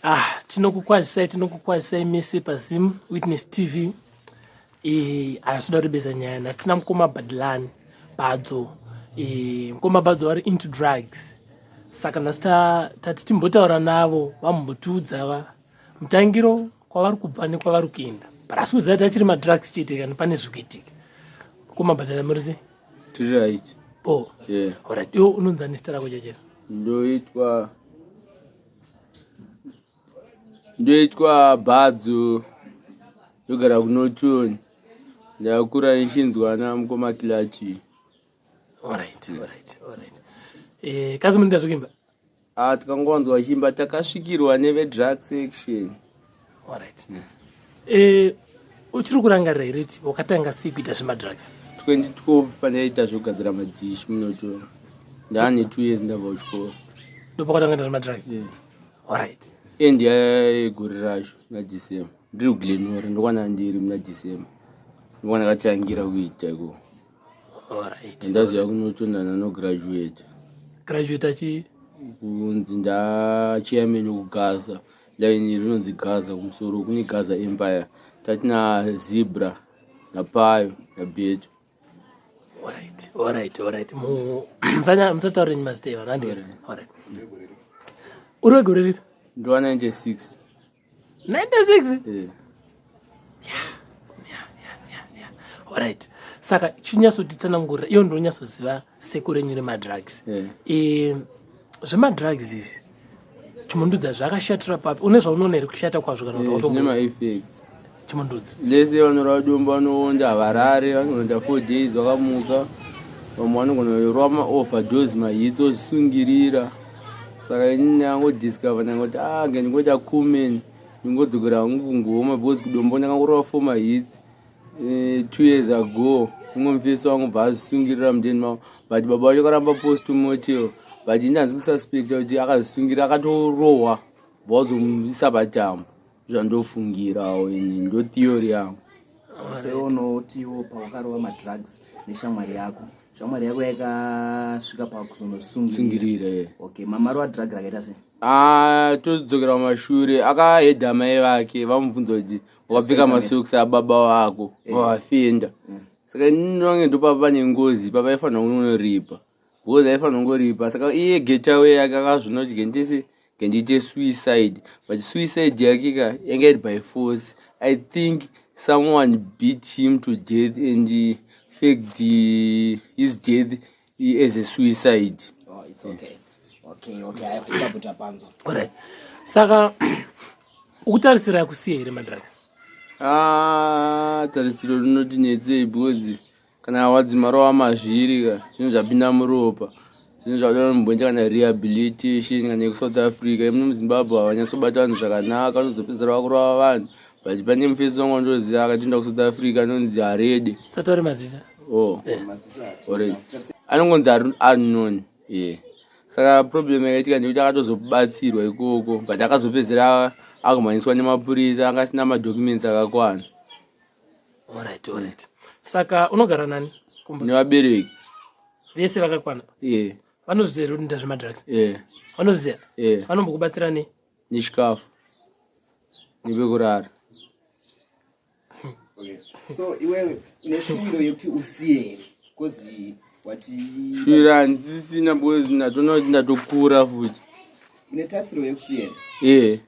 ah tinokukwazisai tinokukwazisai mese pazim witness tv eh, haasida rebeza nyaya nhasi tina mukoma badlani badzo eh, mukoma badzo vari into drugs saka nhasi tati timbotaura navo vamumbotiudza va mutangiro kwavari kubva nekwavari kuenda but asi kuziva tachiri madrugs chete kana pane zvikuitika mukoma badala murise tiri right bo yeah. orit iwo unonzi ani zita rako chachera ndoitwa ndoitwa bhadzo ndogara kunotoni ndakura ichinzwa namukoma kilachi orit orit orit eh, kazi munoita zvekuimba Ah, tikangonzwa chimba takasvikirwa nevedrug section alright mm. eh, uchiri kurangarira here ti wakatanga sei kuita zvemadrugs 2012 pandaiita zvekugadzira madish munoto ndaane two years ndabva kuchikoro ndopakatanga ita zvemadrugs yeah. alright end yayegore racho na december ndiri kuglenore ndokwana ndiri muna december ndokwana katirangira kuita ikoo alright ndaziva kunotonana no graduate graduate achi kunzi ndachairman wekugaza laini rinonzi gaza kumusoro kune gaza empire tatina zebra napayo nabeto alright alright alright musataure nyi mazita evanhu andiri alright uri wegore ripi ndiwa 96 96 eh. orit saka chinyatsotitsanangurira iyo ndonyatsoziva sekuru enyu remadrugs eh. eh, zvemadrugs izvi chimundudza zvakashatira papi une zvaunoona here kushata kwazvo kana kuti chimundudzi lese vanorwa dombo vanoonda havarare vanoonda four days vakamuka vamwe vanogonorwa maoverdose mahitsi ozvisungirira saka ini ndangodiscover ndangoti a ah, ngendingoita cumen ndingodzokera hangu kungoma because kudombo ndakangorwa four mahitsi eh, two years ago umwe mufesi wangu bva azvisungirira mudeni mavo but baba vacho karamba post motel but ini hanzi kususpecta kuti akazvisungira akatorohwa bvawazomuisa patambo zvandofungirawo ini ndo theory yangu seunotiwo paukarova madrugs neshamwari yako shamwari yako yakasvika pakuzonosungirira okay mamaro adrug rakaita sei ah, tozodzokera mumashure akahedha mai vake vamubvunza kuti wakapfeka masoks ababa wako eh. vavafenda mm. saka ini ndonge ndopapa pane ngozi papa ifanira kunonoripa because aifanongoripa saka iye getawe yake akazvinoti gendese gendiite suicide but suicide yake ka yanga iri by force i think someone beat him to death and faked his death as a suicide oh, it's okay. Okay, okay. Right. saka ukutarisira yakusiya here madrak ah, tarisiro rinoti netsei because kana wadzima rova mazviri ka zvinhu zvapinda muropa zvinhu zvatoda mubhonja kana rehabilitation kana yekusouth africa imuno muzimbabwe havanyatsobata vanhu zvakanaka vanozopedzera vakurova vanhu but pane mufesi wangu wandoziva akatoenda kusouth africa anonzi harede satore mazita o oh. eh. already anongonzi anon ye saka problem yakaitika ndekuti akatozobatsirwa ikoko but akazopedzera akumhanyiswa nemapurisa anga asina madocuments akakwana Alright, alright. Saka unogara nani? Kumba. Nevabereki. Vese vakakwana? Yeah. Vanoziva here kuti nda zvemadrugs? Yeah. Vanoziva? Yeah. Vanombokubatsira nei? Nechikafu. Nepekurara. Okay. So iwewe une shuviro yekuti usiye here? Because wati shuviro handisisina because ndatoona kuti ndatokura futi. Une tasiro yekusiya here? Yeah.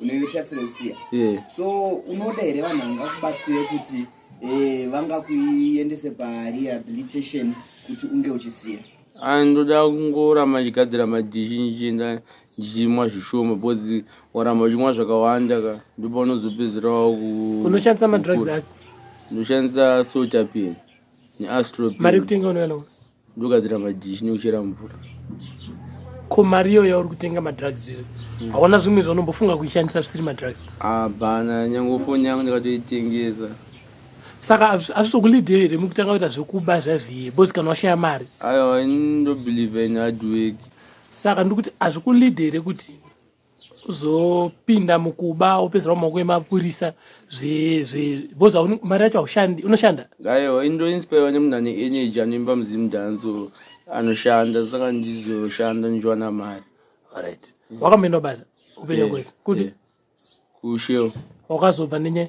unoita sereusiya yeah. so unoda here vanhu vangakubatsire kuti eh, vangakuendese parehabilitation kuti unge uchisiya ah, ndoda kungoramba ndichigadzira madhishi ndichienda ndichimwa zvishoma because waramba uchimwa zvakawanda ka ndipo unozopedzerawo unoshandisa madrugs ako ndoshandisa sotapian neastropin mari kutenga unoyanawo ndogadzira madhishi nekuchera mvura ko mari iyo yauri kutenga madrugs izo hmm. haona zvimwe zvaunombofunga kuishandisa zvisiri madrugs hapana nyange foni yangu ndikatoitengesa saka azvizokulidhe here mukutanga kuita zvekuba zvazviye bos kana washaya mari aiwa ndobelieve in hardwork saka ndikuti azvikulidhe here kuti uzopinda mukuba wopedzera mumaoko emapurisa because mari yacho haushandi unoshanda aiwa indoinspirwa nemunhu ane energy anoimba muzimu danso anoshanda saka ndizoshanda ndichiwana mari right wakamboenda basa upenyu kwese kuti kusheo wakazobva nenyaya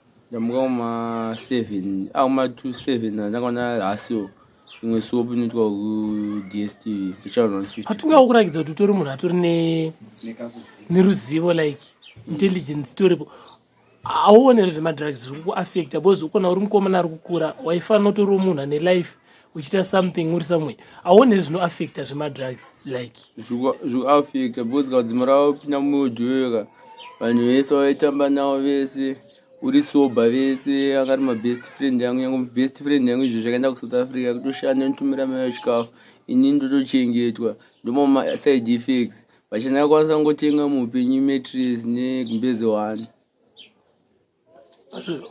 ndamuka kuma 7 a kuma 27 andakaona hasio imwe suop inoitwa kudstv hatingawo kurakidza kuti utori munhu atori neruzivo like intelligence toripo hauonere zvemadrugs zviri kukuaffecta because ukona uri mukomana ari kukura waifanira utoriwo munhu ane life uchiita something uri somewhere aone zvino affecta zvemadrugs like zvikuaffecta because kaudzima ravo pina muyojoyoka vanhu vese vaitamba navo vese uri sober vese akati mabest friend yangu yangu best friend yangu izvo zvakaenda kusouth africa kutoshanda nitumira mayo chikafu ini ndotochengetwa ndomamasaid effects vachina kwanisa ngotenga muupenyu matres nekumbeze one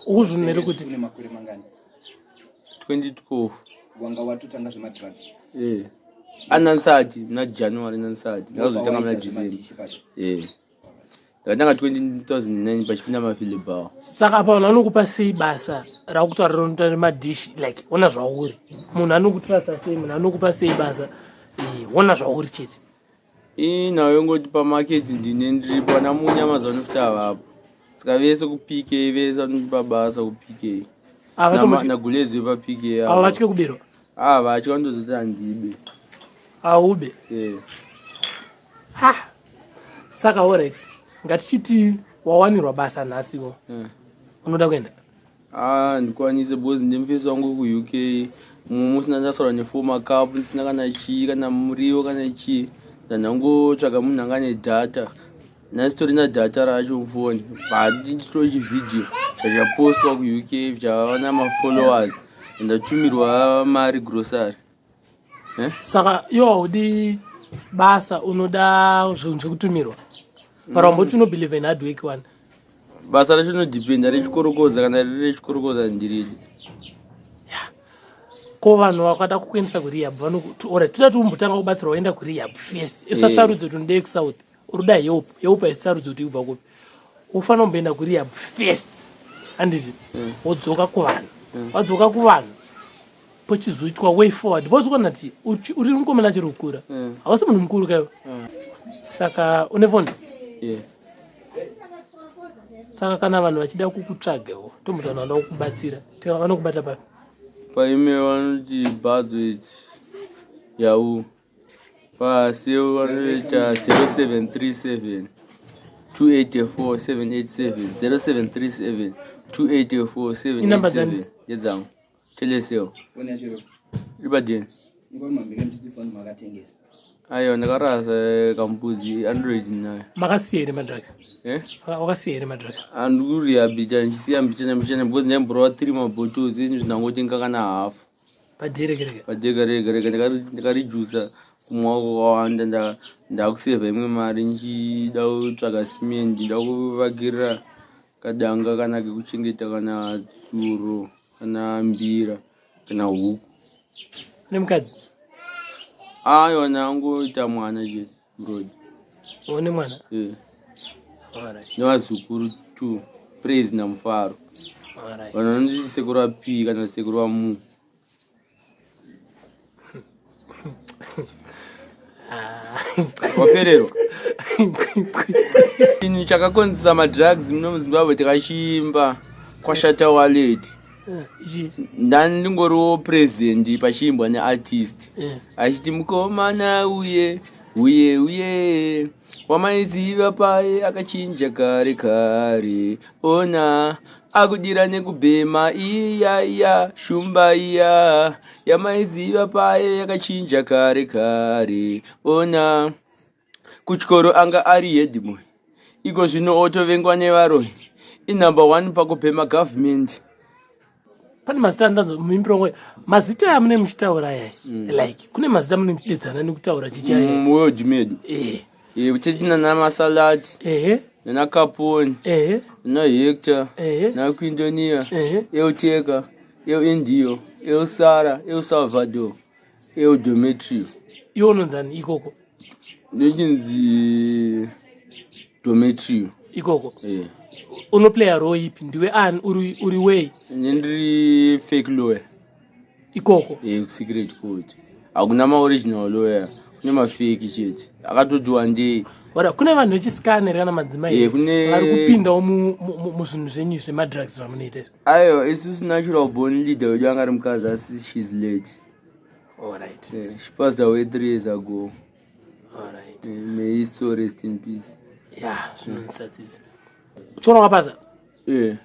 ukuzvimere kuti une makore mangani 2012 wanga watotanga zvemadrugs eh anansati muna january nansati ndakazotanga muna december eh ndakatanga 2009 pachipinda mafilibaw saka apa vanhu vanokupa sei basa rakutaurira unoita nemadishi like ona zvauri munhu anokutrasta sei munhu anokupa sei basa eh, ona zvauri chete ii nhau yongoti pamaketi ndine ndiripo ana munya mazano futi avapo saka vese kupk vese vanoti pabasa kupk nagulezi vepapk ava vatye kubirwa aa ah, vatye vandozoti handibe aube yeah. ha saka orit ngatichiti wawanirwa basa nhasiwo yeah. unoda kuenda Ah, ndikwanise because ndimufesi wangu kuuk musi ndandasara nefour macup ndisina kana chii kana muriwo kana chii ndandangotsvaga munhu anga ne data nasitori na data racho mufoni bhandititoo chivideo chachapostwa kuuk zvichava na mafollowers ndatumirwa mari grocery eh? saka iwo haudi basa unoda zvinhu zvekutumirwa para wamboti mm. unobelieve in hard work one basa racho rinodependa rechikorokoza kana riri rechikorokoza ndiridi ko vanhu vakada kukuendesa kurehab vanokuti ora tida tiumbotanga kubatsirwa waenda kurehab first usasarudze eh. kuti ndeye kusouth uruda help help haisarudzi kuti ubva kupi ufanira kumboenda kurehab first handiti mm. wodzoka kuvanhu mm. wadzoka kuvanhu pochizoitwa way forward because ukaona ti uri mukomana chiri kukura mm. hausi munhu mukuru kaivo saka une foni saka kana vanhu vachida kukutsvagewo tomuti vanhu vanoda kukubatsira tiva vanokubata papi paime vanoti badzo iti yahoo vanoita 0737 284 787 yedzangu teleseo ibadini ayo ndakarasa eh, kambudzi android nayo makasiya here madrugs eh? wakasiya here madrugs andikurihabilita ndichisiya mbichana mbichana because ndaimborova three mabottles izvi zvindangotenga kana hafu pajegaregarega ndakarijusa kumwaoko kwawanda ndakusevha imwe mari ndichida kutsvaga simendi nda kuvakirira kadanga kana kekuchengeta kana tsuro kana mbira kana huku nemukadzi ayona angoita mwana chete one mwana eh. nevazukuru t praise namufaro vanhu vanoti sekuru va p kana sekuru va mu ah. wapererwa ini chakakonzisa madrugs muno muzimbabwe tikachimba kwashata waleti eh, ndandingoriwo present pachiimbwa neartist eh. achiti mukomana uye uye uye wamaiziva paye akachinja kare kare ona akudira nekubhema iya iya shumba iya yamaiziva paye yakachinja kare kare ona Kuchikoro anga ari headboy, iko zvino otovengwa nevaroyi. Inumber one pakupema government. Pane mazita andanzwa muimbiro wangu mazita amune muchitaura yai mm. like kune mazita mune muchidedzana nekutaura chichai mm, world medu eh e, uchiti nana masalati ehe nana kaponi ehe nana hector ehe nana kuindonia ehe euteka eu indio eu sara eu salvador eudometrio iwo unonzani ikoko ndichinzi dometrio ikoko eh. unoplaya roo ipi ndiwe ani uri wei ne ndiri fake lawyer ikoko eh, kusecret court hakuna maoriginal lawyer kune mafeki chete akatotiwa ndei ora kune vanhu vechisikaneri kana madzimai eh, vari kupindawo muzvinhu zvenyu zvemadrugs zvamunoita izvi Ayo, isusu natural born leader wedu anga ari mukadzi asi she's late. All right. Yeah, she passed away three years ago. All right. Yeah, may his soul rest in peace. Yeah, zvinonisatisa. Chikoro wakapasa? Yeah.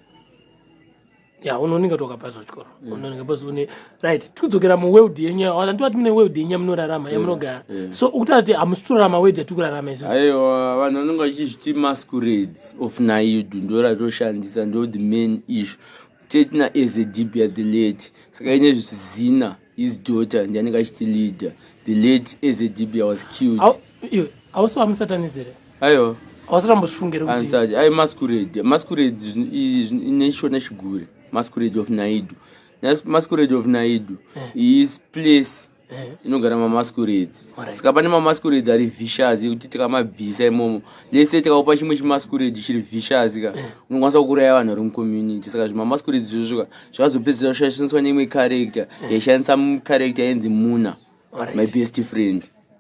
Yeah, unoninga kuti wakapasa chikoro. Yeah. Unoninga basi une right tikudzokera muworld yenyu yawana ndovati mune world yenyu yamunorarama yamunogara so ukutaura kuti hamusi kurarama world yatikurarama isu aiwa vanhu vanenge vachizviti masquerades of naidu ndo ratoshandisa ndo the main issue tetina as a deep ya the late saka ine zvisizina his daughter ndi anenge achiti leader the late as a deep ya was killed ausi wamusatanist here aiwa ausirambozvifungire kuti ai masquerade masquerade ine shona chigure masquerade of naidu masquerade of naidu eh. is place eh. inogara mamasquerades saka pane mamasquerades ari vicious ekuti tikamabvisa imomo lese tikakupa chimwe chimasquerade chiri vicious ka eh. unokwanisa kukuraya vanhu vari mucommunity saka zvimamasquerades zvozvoka zvakazopedzisira kushaishaniswa neimwe character yaishandisa character yenzi muna my best friend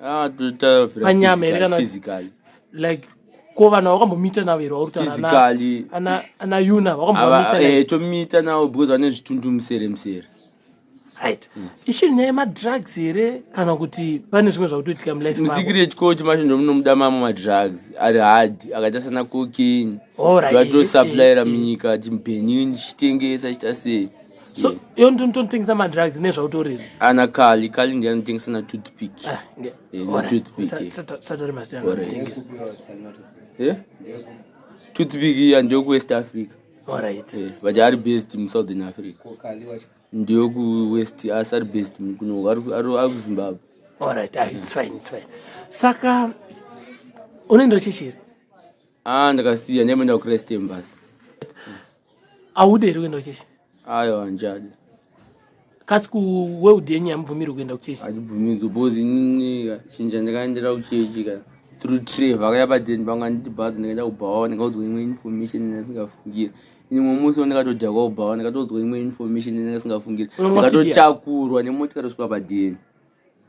Ah, panyama here kana like ko vanhu vakambomiita navo here vauritaanauna vakambomiita eh, navo because vane zvitundu musere musere right mm. ichiri nyaya yemadrugs here kana kuti pane zvimwe zvakutoitika mulifemusecret coach macho ndomunomuda mamwe madrugs ari hard akaita sana cokin vatosaplayira munyika tibenin chitengesa chita sei so yeah. iyo ndinototengesa madrugs nezvautoriri ana kali kali ndiye anotengesa na toothpick ah, eh, na toothpick satori mazita anotengesa eh toothpick iya ndiyo kuwest africa alright eh, but ari based musouthern africa ndiyo kuwest asi ari based kuno ari kuzimbabwe alright ah, it's fine it's fine saka unoenda uchichiri ah ndakasiya ndiamboenda kuchrist embasy aude here kuenda kuchechi ayo hanjadi kasi kuweld yenyu yamubvumiri kuenda kuchechi andibvumidzo bcause inini chinja ndakaendera kuchechi ka through trave akaya padeni pangu anditi bhazi ndakaenda kubhawa ndakaudzwa imwe information yandasingafungire ini mwe musi wandikatodhakwa kubhawa ndakatoudzwa imwe information yandasingafungire ndakatotakurwa nemotikatosvika padeni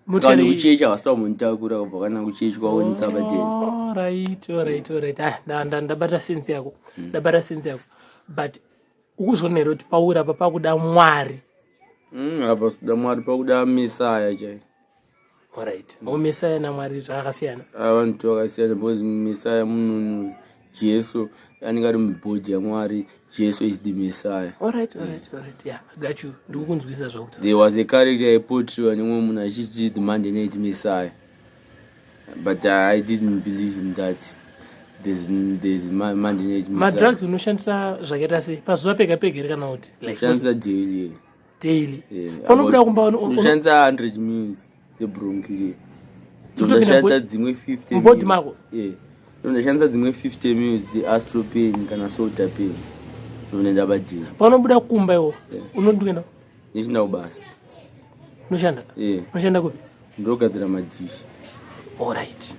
Mutani kuchechi havasita kumunitakura kubva kana kuchechi kwaonisa vateni. Oh, right, all right, all right. Ah, nda nda ndabata sense yako. Hmm. Ndabata sense yako. But ukuzonero kuti paura apa pakuda Mwari. Mm, apa sida Mwari pakuda Messiah chai. All right. Mm. Messiah na Mwari zvakasiyana. Ah, vanhu vakasiyana because Messiah munhu Jesu anenge ari mubhodhi yaMwari. Jesu is the Messiah. All right, all right, all right. Yeah, I got you. Ndikukunzwisa zvakutaura. There was a character I portrayed when umwe munhu achiti the man didn't need Messiah. But uh, I didn't believe in that. There's, there's ma, man didn't need Messiah. Madrugs unoshandisa zvakaita sei? Pazuva pega pega here kana kuti? Like, unoshandisa daily. Daily. Yeah, Panobuda kumba unoshandisa 100 meals. dzebronkliandashandisa dzimwe 50 mbodi mako eh, ndashandisa dzimwe 50 mils dzeastropain kana solta pain ndonoenda padina paunobuda kumba iwo eh. unondienda ndichinda kubasa unoshanda eh. unoshanda kupi ndogadzira madhishi orit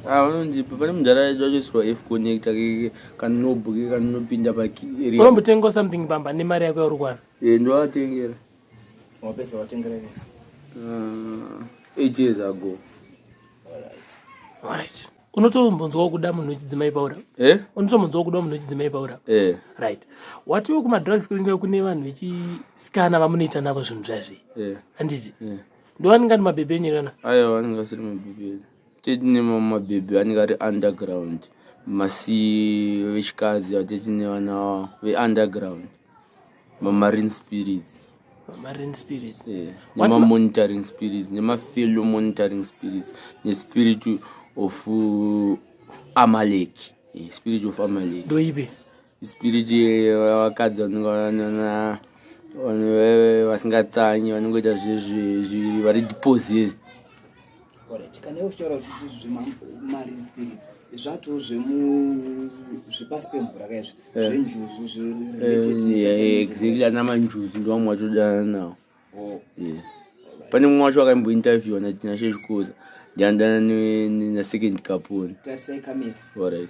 vanondipa pane mudhara aitoisirwa f connecta kanobuke kanopinda paeria unombotengawo something pamba nemari yako yauri kuwana Eh, ndovatengera wapedza watengera ini uh, eight years ago alright unotombonzwawo kuda munhu wechidzimai paura eh? unotombonzwawo kuda munhu wechidzimai paura eh. right watiwo kumadrugs kunenge kune vanhu vechisikana vamunoita navo zvinhu zvazvi eh. handiti eh. ndovaninga ndi mabhebhe enyu irana aiwa anenge asiri mabhebhe enyu tete nemamwe mabhebhi anenge ari underground masi vechikadzi vatete nevana veunderground mamarine spirits mamarine spirits eh, nemamonitoring spirits nemafellow monitoring spirits nespirit of uh, amaleki eh, spirit of amaleki ndoibe spirit yevakadzi vanenge vanana vanhu veve vasingatsanyi vanongoita zvezvezvi vari deposist kana iwe uchitaura uchiti zvemari spirits zvatiwo zvepasi pemvura kaizvi eh. zvenjuzu zveexactly eh, ana manjuzu ndovamwe vatodana nawo oh. pane mumwe wacho wakaimbointerviewa natinashe zvikoza ndiandana nasecond kaponi tarisai kamera orit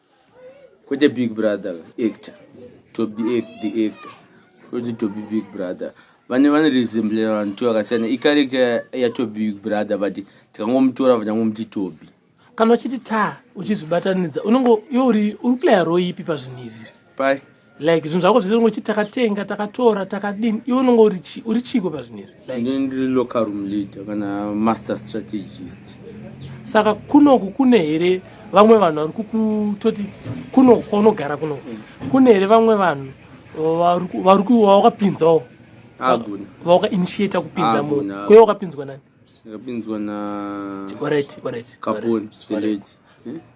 kwete big brother actor tobi the actor kwete tobi big brother vane vane resemble vanhu to vakasiyana icarector yatobi big brother but tikangomutora vanyangomuti tobi kana uchiti ta uchizobatanidza unenge iwe uri uri player roipi pazvinhu izvi pai like zvinhu zvako zvese unoti takatenga takatora takadini iwe unonge uri chiiko pazvinhu izvi like ndiri local room leader kana master strategist saka kunoku kune here vamwe vanhu vari kukutoti kunoku kwaunogara kunoku mm. kune here vamwe vanhu vari kuwakapinzawo vaukainitiata kupinza munhu kweye wakapinzwa nani ndakapinzwa na alright alright kapon the lady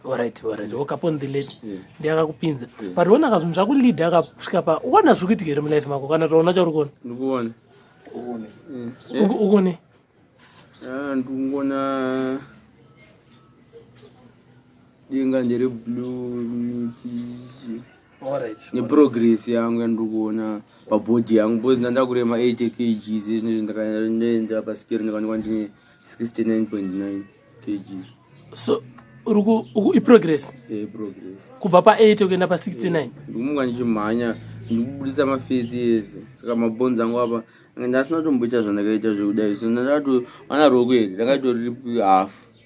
alright eh? alright okapon oh, the lady eh. ndiye akakupinza eh. but ona ka zvinhu zvakulead akasvika pa uona zviri kuitika here mulife mako kana taona chauri kuona ndikuone ukuone ah, ndikungona denga ndere blue miti neprogress yangu yandiri kuona pabody yangu bcause ndandakurema 8 kgs izvinezvi ndakaenda pasikero ndikaonekwa ndine 69.9 kg so iprogress eh, kubva pa8 kuenda pa69 eh, ndikumuka ndichimhanya ndikubudisa mafesi ese saka mabhonzi angu apa ndasina tomboita zvandakaita zvekudai so ndandakatoana rokuenda ndakatoriri half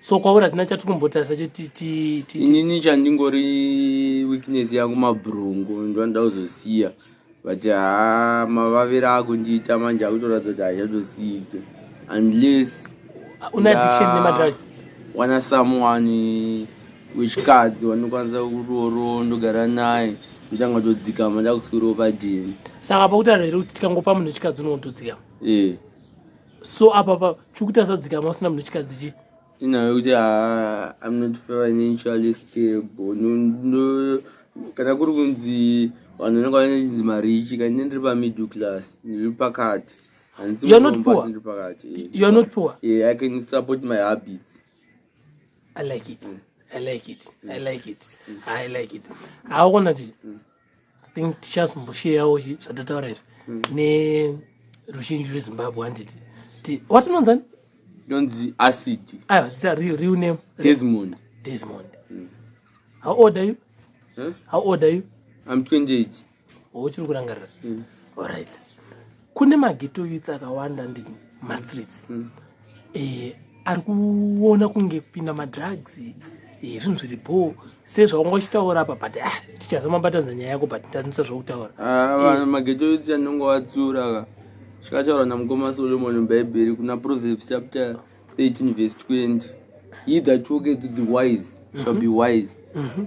so kwauri hatina chati kumbotarisa chetiinini chandingori weakness yangu mabhurungu ndovanoda kuzosiya but haa mavaviri akundiita manje akutoratidza kuti hazvazosiyike unless ah, une addiction nemadrugs wana someone wechikadzi wanokwanisa kuroro ndogara naye ndotanga todzikama ndakuswiriwo padini saka pakutaura here kuti tikangopa munhu wechikadzi unotodzikama ee eh. so apa pa chikuti asadzikama usina munhu chikadzi chii inyaya yekuti haa i'm not financially stable kana kuri kunzi vanhu vanenge vanechinzi marichi kani ndiri pamiddle class ndiri pakati handiiiri pakati eh, i can support my habits i like it mm. i like it i mm. like it i like it mm. haukona chii think tichazombosheyawo zvatataura izvi mm. neruzhinji rwezimbabwe handiti watinonzani donzi acid aiwa zita real name desmond desmond mm. how old are you huh? how old are you i'm 28 uchiri kurangarira mm. all right kune mageto youths akawanda ndi mastreets mm. eh, ari kuona kunge kupinda madrugs eh, zvinhu zviri bho sezvaunga uchitaura apa but ah, tichazomabatanza nyaya yako but ndanisa zvokutaura ah, eh. mageto youths anonge watsiura ka zvakataura namukoma solomoni mubhaibheri kuna proverbs chapter 13 vese 20 he that walketh the wise shall be mhm. wise mm -hmm.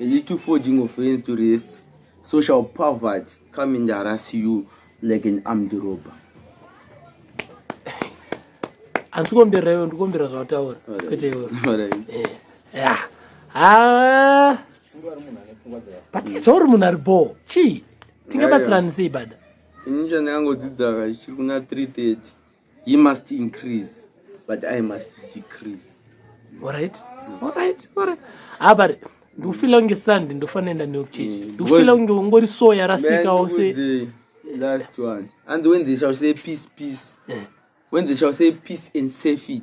a little forging of hands to rest so shall poverty come and harass you like an armed robber hansi kombera iwe ndikombera zvawataura kwete iwe eh, ah. but zvauri munhu ari bho chii tingabatsirani sei bada ini chandakangodzidza ka chiri kuna 330 he must increase but i must decrease alright alright alright abari ah, ndikufila kunge sandi ndofanenda neyokuchechi mm, ndikufila kunge ungori so yarasika ose last one and when they shall say peace peace eh. when they shall say peace and safety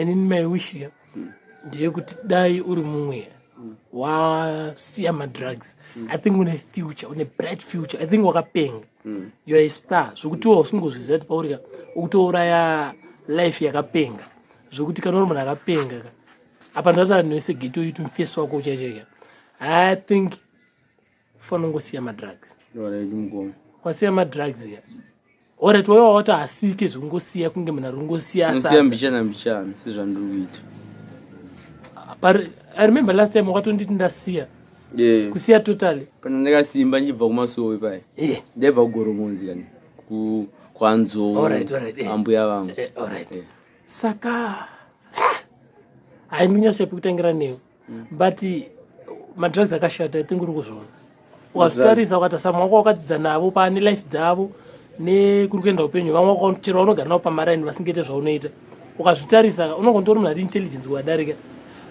inini mai wish ya ndeyekuti dai uri mumweya wasiya madrugs mm. i think une future une bright future i think wakapenga mm. you are a star zvokuti wa usingozviziva kuti paurika ukutouraya life yakapenga zvokuti kana uri munhu akapenga ka apa ndataura newese geto yitu mufesi wako uchachaika i think kufanira kungosiya madrugs kwasiya madrugs ya oret waiva wati asike zvekungosiya kunge munhu ari kungosiya mbichana mbichana sezvandiri kuita i remember last time wakatonditi ndasiya yeah. kusiya totally kana ndakasimba ndichibva kumasowe paye yeah. ndaibva kugoromonzi kani kwanzou right, right, yeah. ambuya vangu yeah, right. yeah. saka ah! haiminyasvapi kutangira newe mm. but madrugs akashata i think uri kuzviona wazvitarisa ukati samwe wako wakadzidza navo pane life dzavo nekuri kuenda upenyu vamwe wakachero vanogara navo pamaraini vasingaite zvaunoita ukazvitarisa unongo nditori munhu ari intelligence kuvadarika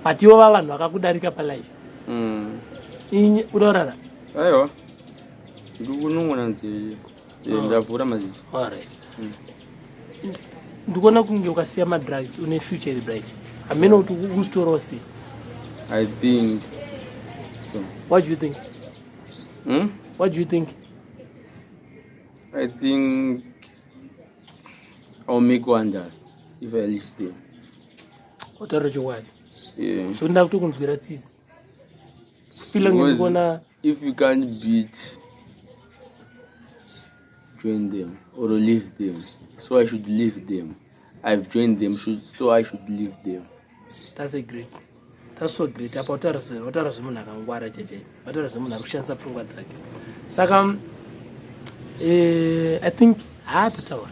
but ivo va vanhu vakakudarika palife mm. inyi udaurara aiwa ndikunongonanzii Eh, ndavhura maziso alright Mm. ndikuona kunge ukasiya madrugs une future iri bright hameno kuti ukutorawo sei i think so what do you think hmm? what do you think i think i'll make wonders if i live there wataura chokwadi yeah. zvekuti ndakutokunzwira tsitsi feeling Because gonna if you can't beat join them or leave them so i should leave them i've joined them should, so i should leave them that's a great that's so great apa utaura zvemunhu akangwara cheche utaura zvemunhu ari kushandisa pfungwa dzake saka eh, i think haatataura